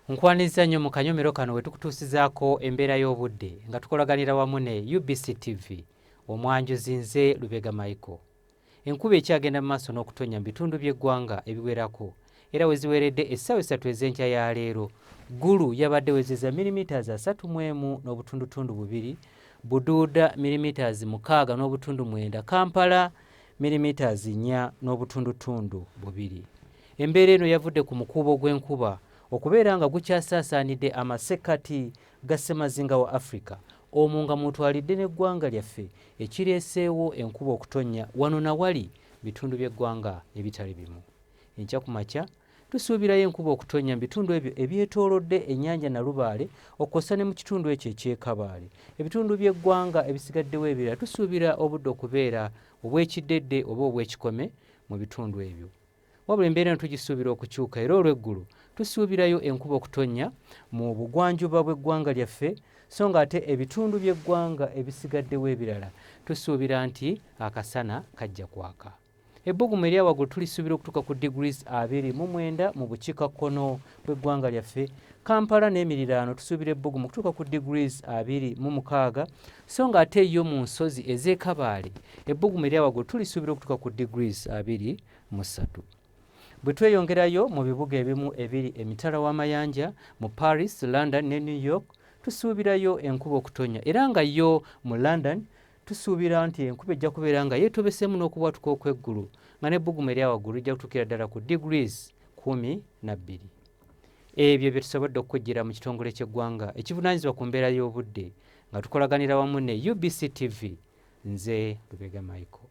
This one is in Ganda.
nkwanizza nnyo mu kanyomero kano we tukutuusizaako embeera y'obudde nga tukolaganira wamu ne ubc tv omwanjuzi nze lubega michael enkuba ekyagenda mu maaso n'okutonnya mu bitundu by'eggwanga ebiwerako era we ziweredde essaawa essatu ez'enkya ya leero ggulu yabadde wezeza milimitaazi asatu mu emu n'obutundutundu bubiri buduuda milimitaazi mukaaga n'obutundu mwenda kampala milimitaazi nnya n'obutundutundu bubiri Embeera eno yavudde ku mukuubo gw'enkuba okubeera nga gukyasaasaanidde amasekkati ga ssemazinga wa Africa omwo nga mwotwalidde n'eggwanga lyaffe ekireeseewo enkuba okutonnya wano na wali mu bitundu by'eggwanga ebitali bimu. Enkya ku makya tusuubirayo enkuba okutonnya mu bitundu ebyo ebyetoolodde ennyanja Nalubaale okwossa ne mu kitundu ekyo eky'e Kabaale. Ebitundu by'eggwanga ebisigaddewo ebirala tusuubira obudde okubeera obw'ekiddedde oba obw'ekikome mu bitundu ebyo. Wabula embeera eno tugisuubira okukyuka era olw'eggulu tusuubirayo enkuba okutonnya mu bugwanjuba bw'eggwanga lyaffe so ng'ate ebitundu by'eggwanga ebisigaddewo ebirala tusuubira nti akasana kajja kwaka. Ebbugumu erya waggulu tulisuubira okutuuka ku degrees abiri mu mwenda mu bukiikakkono w'eggwanga lyaffe kampala n'emiriraano tusuubira ebbugumu okutuuka ku degrees abiri mu mukaaga so nga ate yo mu nsozi ez'ekabaale ebbugumu eryawaggulu tulisuubira okutuuka ku degrees abiri mu ssatu bwe tweyongerayo mu bibuga ebimu ebiri emitala w'amayanja mu paris london ne new york tusuubirayo enkuba okutonya era nga yo mu london Tusuubira nti enkuba ejja kubeera nga yeetobeseemu n'okubwatuka okw'eggulu nga n'ebbugumu erya waggulu lijja kutuukira ddala ku degrees kkumi na bbiri. Ebyo bye tusobodde okukujjira mu kitongole ky'eggwanga ekivunaanyizibwa ku mbeera y'obudde nga tukolaganira wamu ne UBC TV. Nze Lubega Michael.